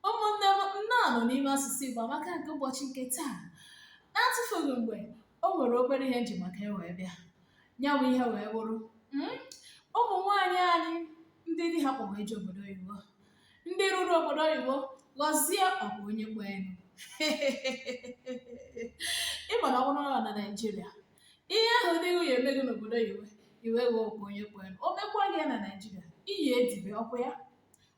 ụmụnne m nnọọ nụ n'ime asụsụ Igbo amaka nke ụbọchị nke taa na-atụfughị mgbe o nwere obere ihe m ji maka ya wee bịa ya bụ ihe wee bụrụ mm, ụmụ nwaanyị anyị ndị di ha kpọ wee jee obodo oyibo ndị ruru obodo oyibo ghọzie ọkwa onye kpọ enu ị ma na ọ bụrụ nọ na naijiria ihe ahụ ndị nwunye eme gị n'obodo oyibo i wee ghọọ ọkwa onye kpọ enu o mekwa gị ya na naijiria i ya edibe ọkwa ya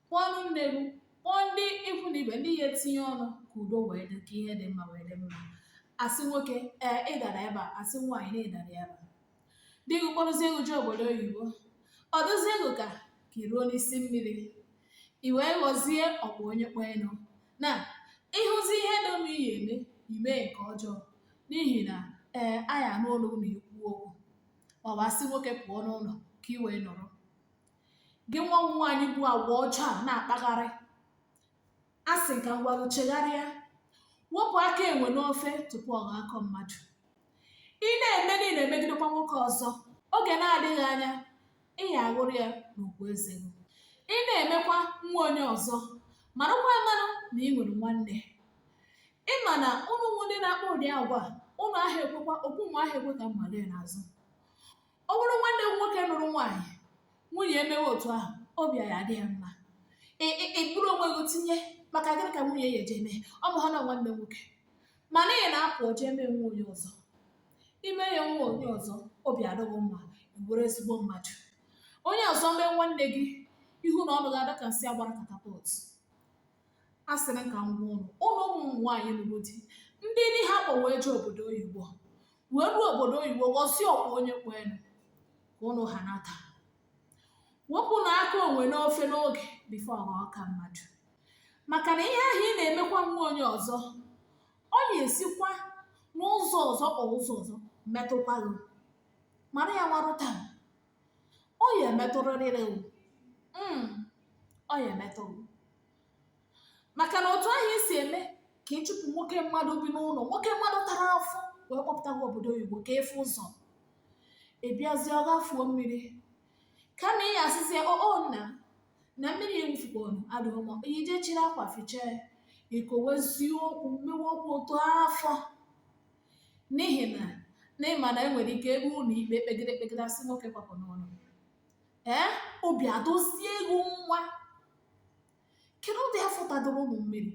kpọọnụ nne gị kpọọ ndị ikwu na ibe ndị ya etinye ọnụ ka udo wee dị ka ihe dị mma wee dị mma a sị nwoke ee ị dara ebe a a sị nwaanyị na ị dara ebe a di gị kpọrọzie gị jee obodo oyibo ọ dụzie gị ka ka i ruo n'isi mmiri i wee ghọzie ọkpụ onye kpọ enu na ị hụzi ihe dị mma ị ya eme i mee nke ọjọọ n'ihi na ee anyị anụ olu na-ekwu okwu ma ọ bụ a sị nwoke pụọ n'ụlọ ka i wee nọrọ gị nwa bụ nwaanyị bu agwa ọjọọ a na-akpagharị a sị ka m gwa gị chegharịa wepụ aka enwe n'ofe tupu ọ ghọọ aka mmadụ ị na-eme na ị na-emegidekwa nwoke ọzọ oge na-adịghị anya ị ya aghụrụ ya n'ukwu eze gị ị na-emekwa nwa onye ọzọ marakwa amarụ na ị nwere nwanne ị ma na ụnụ ndị na-akpa ụdị agwa a, ụnụ aha ekwekwa okwu ụnụ aha ekwe ka mmadụ ya n'azụ ọ bụrụ nwanne m nwoke nụrụ nwaanyị nwunye emewe otu ahụ obi ya adị gị mma Ị- ị- i buru onwe gị tinye maka gịnị ka nwunye ya ji eme ọ bụ ha na nwanne m nwoke mana ị na-apụ eje eme nwa onye ọzọ i mee ya nwa onye ọzọ obi adị gị mma ị bụrụ ezigbo mmadụ onye ọzọ mee nwanne gị ihu na ọnụ gị adị ka nsị a gbara katapọt asịrị m ka m gwa ụnụ ụnụ ụmụ nwaanyị lụrụ di ndị di ha kpọ wee jee obodo oyibo wee ruo obodo oyibo ghọzie ọkwa onye kpọ enu ka ụnụ ha nata wepụnụ aka enwe n'ofe n'oge before ọ ghọọ aka mmadụ maka na ihe ahụ ị na-emekwa nwa onye ọzọ ọ ya esikwa n'ụzọ ọzọ or ụzọ ọzọ metụkwa gị mara ya marụ taa ọ ya emetụrịrị mm, ọ ya emetụ maka na otu ahụ i si eme ka ị chụpụ nwoke mmadụ bi n'ụlọ nwoke mmadụ tara afụfụ wee kpọpụta gị obodo oyibo ka ị fụ ụzọ ị bịazie ọ kwafuo mmiri kama ị asịzie oo nna na mmiri ewufukponu adịghị mma i je chiri akwa fichaa i kwuwezie okwu mmewe okwu otu afọ n'ihi na na ị ma na e nwere ike e ruo ụlọ ikpe e kpegide e kpegide a sị nwoke kwapụ n'ụlọ ee obi adozie ego nwa kedu ụdị afọ tadoro ụnụ mmiri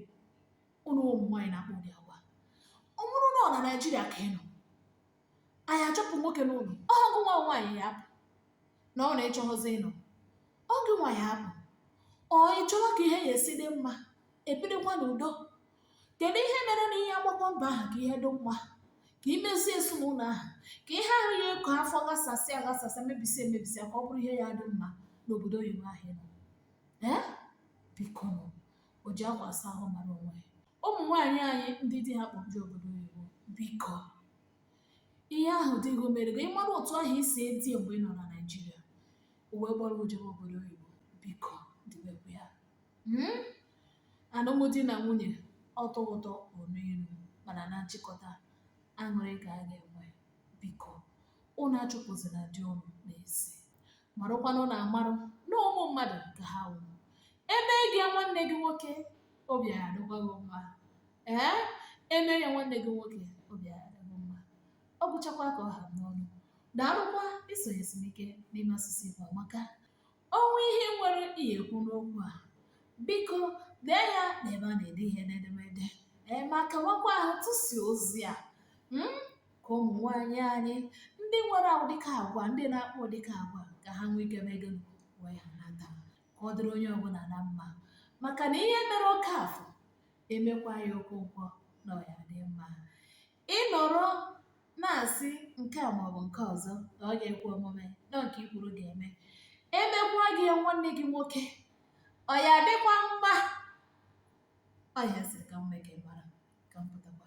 ụnụ ụmụ nwaanyị na-akpa ụdị agwa ọ bụrụ na ọ na naijiria ka ị nọ anyị achụpụ nwoke n'ụlọ ọ gụọ nwa nwaanyị ya apụ na ọ na-achọghịzi ịnọ ọ gụọ nwa ya apụ or ị chọọ ka ihe ya esi dị mma ebidekwa n'udo kedu ihe mere na ihe agbakọ mbọ ahụ ka ihe dị mma ka i mezie ezinụlọ ahụ ka ihe ahụ ya eko afọ ghasasị aghasasị mebisi emebisi ka ọ bụrụ ihe ya dị mma n'obodo oyibo ahụ ị nọ ee bikonụ o ji akwa asa ahụ mara onwe ya ụmụ nwaanyị anyị ndị di ha kpọbiri obodo oyibo biko ihe ahụ di gị mere gị ị mara otu ahụ i si edi mgbe ị nọ na naijiria o wee kpọrọ jebe obodo oyibo biko dibekwa ya hmm? alụmdi na nwunye ọ tọọ ụtọ o luo ilu mana na nchịkọta aṅụrị ka a ga-enwe biko ụnụ achụpụzina di ụnụ n'ezi marụkwanụ na amarụ na ụmụ mmadụ ka ha wụ e mee gị ya nwanne gị nwoke obi ya adịkwa gị mma ee e mee ya nwanne gị nwoke obi ya adịkwa gị mma ọ gwụchakwa ka ọ ha n'ọnụ daalụkwa isonyesi m ike n'ime asụsụ Igbo amaka O nwee ihe i nwere ị ya ekwu n'okwu a biko dee ya n'ebe a na-ede ihe n'edemede ee ma kawakwa ahụ tụsie ozi a mm, ka ụmụ nwaanyị anyị ndị nwere ụdịka agwa ndị na-akpa ụdịka agwa ka ha nwee ike mee gịnị wee ha nata ka ọ dịrị onye ọbụla na mma maka na ihe e mere Okeafọ e mekwa ya Okonkwo na ọ ya dị mma Ị nọrọ na-asị nke a maọbụ nke ọzọ na ọ ga-ekwe omume na nke i kwuru ga-eme e mekwa gị ya nwanne gị nwoke ọ ya adịkwa mma ọ ya m sịrị ka m mee ka ị mara ka m pụtakwa